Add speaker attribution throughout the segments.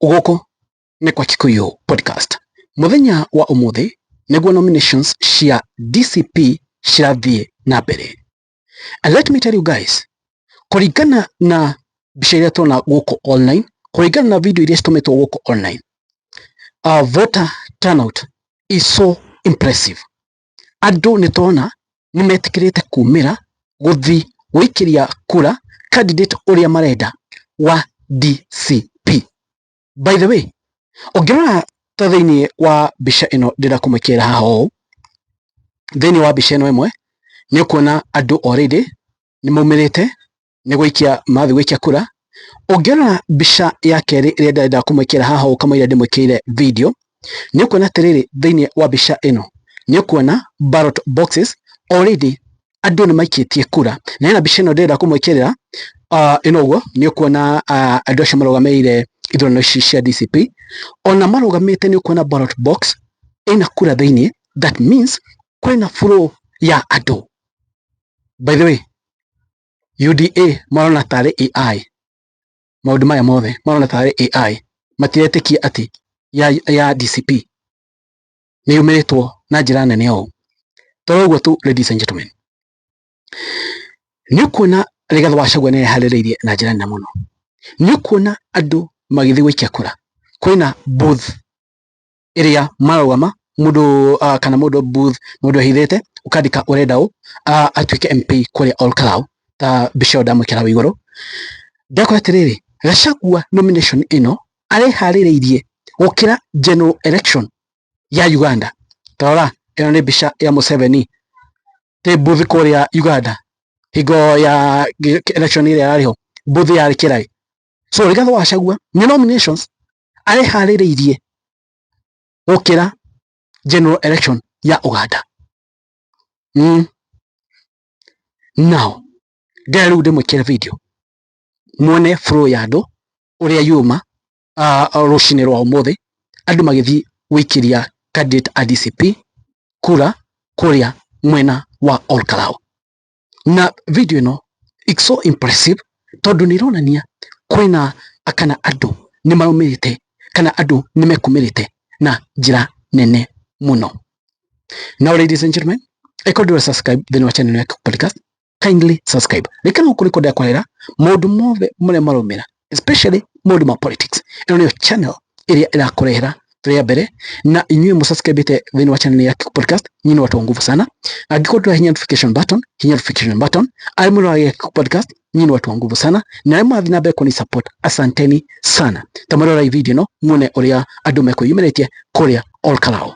Speaker 1: gũkũ nĩ kwa Kikuyu podcast mũthenya wa ũmũthĩ nĩguo nominations cia DCP cirathiĩ na mbere and let me tell you guys kũringana na mbica iria tuona gũkũ online kũringana na video iria citũmĩtwo gũkũ online uh, voter turnout is so impressive andũ nĩtũrona nĩmetĩkĩrĩte kumĩra gũthiĩ gũikĩria kura candidate ũrĩa marenda wa DCP. By the way, ũngĩrora ta thĩiniĩ wa mbica ĩno ndĩrenda kũmwĩkĩrĩra haha ũũ, thĩiniĩ wa mbica ĩno ĩmwe, nĩũkuona andũ already nĩmaumĩrĩte nĩ gũikia mathiĩ gũikia kura. Ũngĩrora mbica ya kerĩ ĩrĩa ndĩrenda kũmwĩkĩra haha ũũ kamũira ndĩmwĩkĩire video, nĩ ũkuona atĩrĩrĩ thĩinĩ wa mbica ĩno, nĩ ũkuona ballot boxes already andũ nĩ maikĩtie kura. Na hena mbica ĩno ndĩrenda kũmwĩkĩrĩra ah, ĩno ũguo, nĩ ũkuona ah, andũ acio marũgamĩrĩire ithurano ici cia DCP. Ona marũgamĩte nĩ ũkuona ballot box ĩna kura thĩinĩ, that means kwĩna flow ya andũ. By the way, UDA marona tarĩ AI maũndũ maya mothe marona tarĩ AI matiretĩkia atĩ ya, ya DCP nĩ yumĩrĩtwo na njĩra nene ũũ toro ũguo tu ladies and gentlemen nĩ kuona Rigathi Gachagua nĩ eharĩrĩirie na njĩra nene mũno nĩ kuona andũ magĩthiĩ gũikia kura kwĩna booth ĩrĩa marauga ma mũndũ uh, kana mũndũ booth mũndũ ehithĩte ũkandĩka ũrenda ũ uh, atuĩke MP kũrĩa Ol Kalou ta mbica ĩyo ndamwĩkĩra hau igũrũ ndakora atĩrĩrĩ Gachagua nomination ĩno areharĩrĩirie gũkĩra general election ya Uganda tarora ĩno nĩ mbica ya Museveni tä mbuthi kå rä a Uganda hingo ya election ä rä a yarä ho mbuthi yarä kä raä so rä gathä wacagua nä nominations areharĩrĩirie gũkĩra general election ya Uganda mm. now ndĩra rĩu ndĩmwĩkĩre video mwone flow ya andũ ũrĩa yuma uh, rũcinĩ rwa ũmũthĩ andũ magĩthiĩ gũikĩria candidate a DCP kura kũrĩa mwena wa Olkalau na video ĩno it's so impressive tondũ nĩ ĩronania kwĩna kana andũ nĩ maumĩrĩte kana andũ nĩ mekumĩrĩte na njĩra nene mũno. Now ladies and gentlemen, ĩkorwo ndĩra subscribe thĩinĩ wa channel ya Kikubalika, kindly subscribe. Rĩkana gũkũ nĩkuo ndakwarĩra maũndũ mothe marĩa maraumĩra especially maũndũ ma politics ĩno nĩyo channel ĩrĩa ĩrakũrehera rĩa mbere na inyuĩ mũsubscribĩte thĩinĩ wa channel ya Kikuyu podcast nyinyi ni watu wa nguvu sana angĩkorwo ndũra hinya notification button hinya notification button arĩa mũrora ya Kikuyu podcast nyinyi ni watu wa nguvu sana na arĩa mũrathiĩ na mbere kũni support asanteni sana ta mũrora video ĩno muone ũrĩa andũ mekwĩyumĩrĩtie kũrĩa Olkalao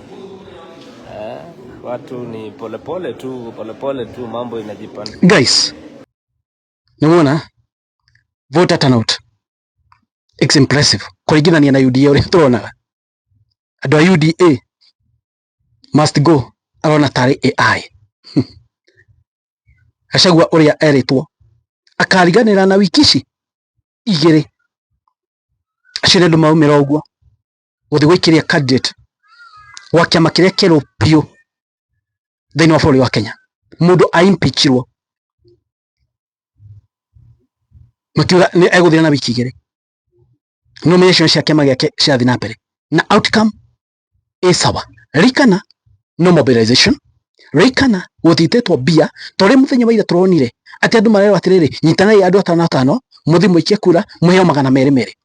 Speaker 2: Eh, watu ni polepole tu, polepole tu, mambo inajipanga. Guys,
Speaker 1: namwona voter turnout it's impressive kuringithania na UDA uria turonaga andu a UDA must go arona tarĩ AI Gachagua ũrĩa erĩtwo akariganĩra na wiki ici igĩrĩ acio nĩ andũ maumĩra ũguo gũthiĩ gũikĩria candidate wa kĩama kĩrĩa kĩerũ biũ thĩinĩ wa bũrũri wa Kenya mũndũ a impeachirwo makiuga nĩ egũthira na wiki igĩrĩ nomination cia kĩama gĩake cirathiĩ na mbere na outcome ĩ sawa rikana no mobilization rikana gũtitĩtwo mbia torĩ mũthenya wa ira tũronire atĩ andũ marerwo atĩrĩrĩ nyitanai andũ atano atano mũthiĩ mũikie kura mũheo magana merĩ merĩ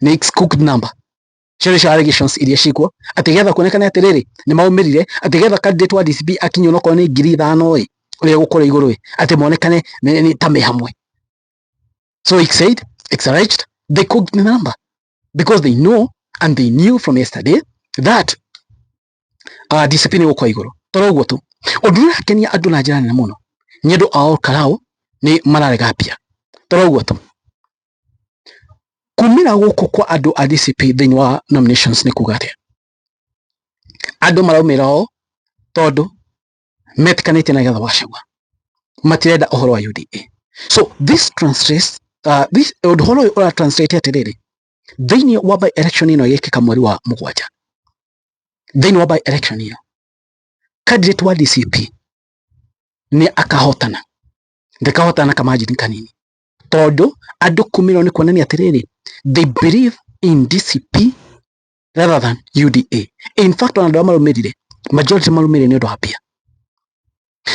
Speaker 1: next cooked number Cherish allegations iria ciĩkuo atĩ getha kuonekane atĩ rĩrĩ nĩ maumĩrire atĩ getha candidate wa DCP akinyio no kone ngiri ithano ĩ ũrĩa gũkora igũrũ ĩ atĩ monekane nĩ ta me hamwe so he said it's alleged they cooked the number because they know and they knew from yesterday that uh, ah, DCP nĩ gũkora igũrũ toro ũguo tu ũndũ ũrĩa akenia andũ na njĩra nene mũno nĩ andũ ao karao nĩ mararega mbia toro ũguo tu kumĩra gũkũ kwa andũ a DCP thĩinĩ wa nominations nĩ kuga atĩa andũ maraumĩra o tondũ metikanĩtie na getha wacagua matirenda ũhoro wa UDA so this translates uh, this ũhoro ũyũ ũra translate atĩrĩrĩ thĩinĩ wa by election ĩno ĩgĩkĩka mweri wa mũgwanja thĩinĩ wa by election ĩyo candidate wa DCP nĩ akahotana ndakahotana kama njini kanini tondũ andũ kũmĩrwo nĩ kuonania atĩrĩrĩ they believe in DCP rather than UDA in fact ona andũ arĩa marũmĩrire majority marũmĩrire nĩ ũndũ wa mbia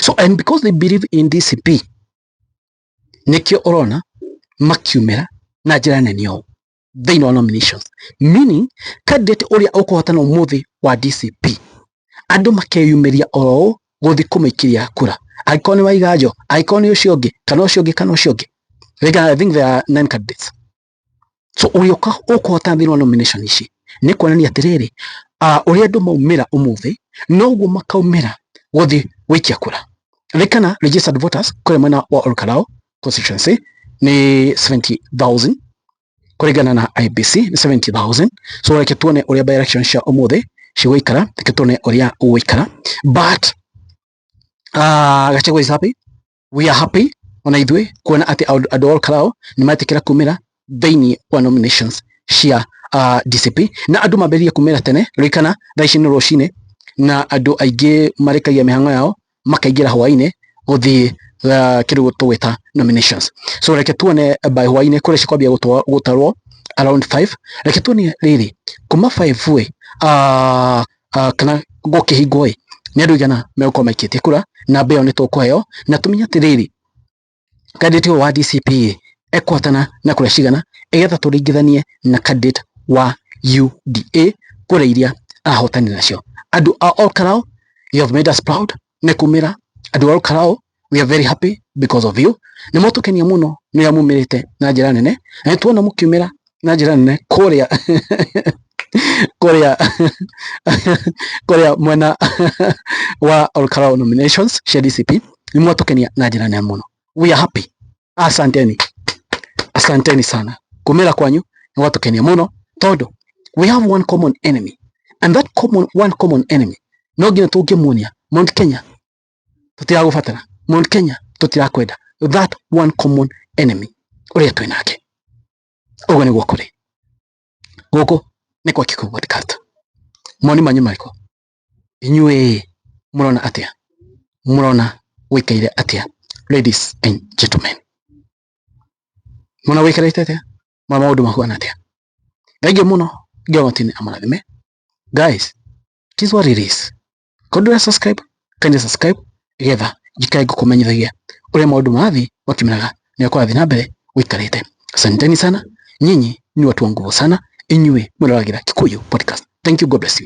Speaker 1: so and because they believe in DCP nĩkĩo ũrona makiumĩra na njĩra nene ũũ thĩinĩ wa nominations meaning candidate ũrĩa ũkũhotana ũmũthĩ wa DCP andũ makeyumĩria oroũ gũthiĩ kũmũikĩria kura angĩkorwo nĩ waiganjo angĩkorwo nĩ ũcio ũngĩ kana ũcio ũngĩ kana ũcio ũngĩ I think there are nine candidates so ũrĩa ũkũhotana thĩinĩ wa nomination ici nĩ kuonania atĩrĩrĩ ũrĩa andũ maumĩra ũmũthĩ noguo makaumĩra gũthiĩ gũikia kura rĩkana registered voters kũrĩa mwena wa Olkarao constituency ni 70000 kuringana na IBC ni 70000 so reke tuone uria by election cia umuthi cigũikara reke tuone uria ũgũikara but uh, ah, Gachagua is happy we are happy ona ithuĩ kuona atĩ andũ all karao nĩ metĩkĩra kumĩra thĩinĩ wa nominations cia uh, DCP na andũ mambĩrĩria kumĩra tene rũikana thaa ici nĩ rũcinĩ na andũ aingĩ marĩkagia mĩhang'o yao makaingĩra hwainĩ gũthiĩ uh, kĩrĩu tũgwĩta nominations so reke tuone by hwainĩ kũrĩa cikwambia gũtwa- gũtarwo around 5 reke tuone rĩrĩ kuma 5 ĩ uh, uh, kana gũkĩhingwo ĩ nĩ andũ igana megũkorwo maikĩtie kura namba ĩyo nĩ tũkũheo na tũmenye atĩrĩrĩ candidate ũyũ wa DCP ekũhotana na kura cigana ĩgetha tũringithanie na candidate wa UDA kura iria arahotani nacio andũ a Ol Kalou you have made us proud nĩ kumĩra andũ a Ol Kalou we are very happy because of you nĩ mũtũkenia mũno nĩ ũrĩa mumĩrĩte na njĩra nene na nĩ tuona mũkiumĩra na njĩra nene kũrĩa kũrĩa kũrĩa mwena wa Olkalau nominations cia DCP nĩ mwatũkenia na njĩra nene mũno. We are happy. Asanteni. Asanteni sana. Kumĩra kwanyu nĩ gwatũkenia mũno tondũ we have one common enemy and that common, one common enemy no nginya tũngĩmuonia Mount Kenya tũtiragũbatara Mount Kenya tũtirakwenda that one common enemy ũrĩa twĩ nake ũguo nĩguo kũrĩ gũkũ nĩ kwa Kikuyu podcast moni manyu marĩkũ inyuĩ mũrona atĩa mũrona gwĩkaire atĩa ladies and gentlemen mũna gwĩkarĩte atĩa ma maũndũ mahuana atĩa kaingĩ mũno ngĩogotinĩ amũrathime guys it is what it is Ko ndũre subscribe, kanya subscribe getha njikare ngũkũmenyithagia ũrĩa maũndũ marathiĩ makimeraga na ũkũrathiĩ na mbere ũikarĩte. Asanteni sana, nyinyi ni watu wa nguvu sana, inyuĩ mwĩroragĩra Kikuyu Podcast. Thank you, God bless you.